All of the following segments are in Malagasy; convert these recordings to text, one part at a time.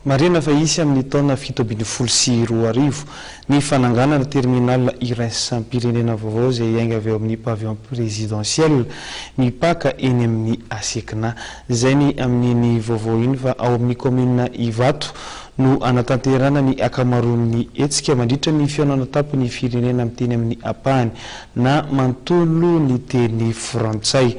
Marihina fa hisy amin'ny taona fito ambin'ny folo sy roa arivo ny fananganana terminal iraisam-pirenena vaovao izay hiainga avy ao amin'ny Pavillon Présidentiel mipaka eny amin'ny Asekina. Izay ny amin'iny vaovao iny fa ao amin'ny kaominina Ivato no hanatanterahana ny ankamaroan'ny hetsika mandritra ny fihaonana tampon'ny firenena miteny amin'ny ampahany na manontolo ny teny frantsay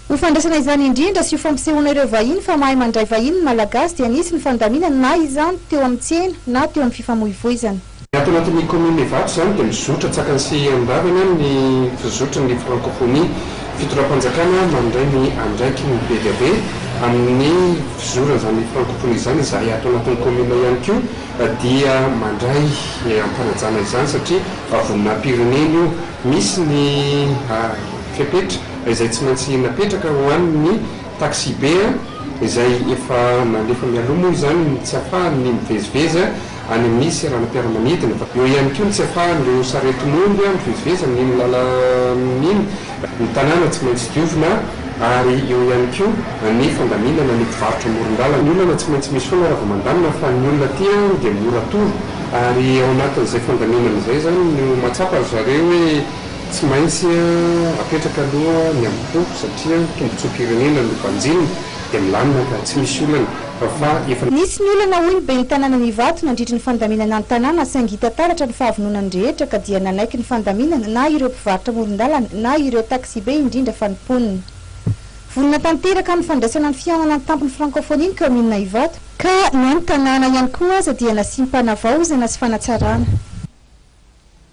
Ho fandraisana izany indrindra sy ho fampisehoana ireo vahiny fa mahay mandray vahiny ny Malagasy dia nisy ny fandaminana na izany teo amin'ny tsena na teo amin'ny fifamoivoizana. Ny ato anatin'ny kaominina Ivato izany dia mizotra tsakany sy andavany amin'ny fizotry ny Frankofonia. Fitondram-panjakana mandray ny andraikiny be dia be amin'ny fizoran'izany Frankofonia izany izahay ato anatin'ny kaominina ihany koa dia mandray am-panajana izany satria voninahim-pirenena io. Misy ny. fepetra izay tsy maintsy napetraka ho an' ny taksibe izay efa nalefa mialoha moa izany ny tsy ahafahany ny mivezivezy any amin' ny seranam-piaramanidina. Eo ihany koa ny tsy ahafahan' ireo saretin' omby mivezivezy amin' iny lalana iny, ny tanàna tsy maintsy diovina ary eo ihany koa ny fandaminana ny mpivarotra amoron-dalana. Ny olana tsy maintsy misy foana raha vao mandamina fa ny olona aty dia mora toro ary ao anatin' izay fandaminana izay izany no mahatsapa ry zareo hoe Tsy maintsy apetraka aloha ny amim-po satria tombontsoam-pirenena no banjinina dia milamina ka tsy misy olana fa fa efa Nisy ny olana hoy ny ben'ny tanànan' Ivato nandritry ny fandaminana ny tanàna saingy hita taratra ny fahavononany rehetra ka dia nanaiky ny fandaminana na ireo mpivarotra amoron-dalana na ireo taksibe indrindra fa ny mponina vonona tanteraka amin'ny fandraisana ny fihaonana ny tampon'ny Frankofonia ny kaominina Ivato ka na ny tanàna ihany koa aza dia nasiam-panavaozana sy fanatsarana.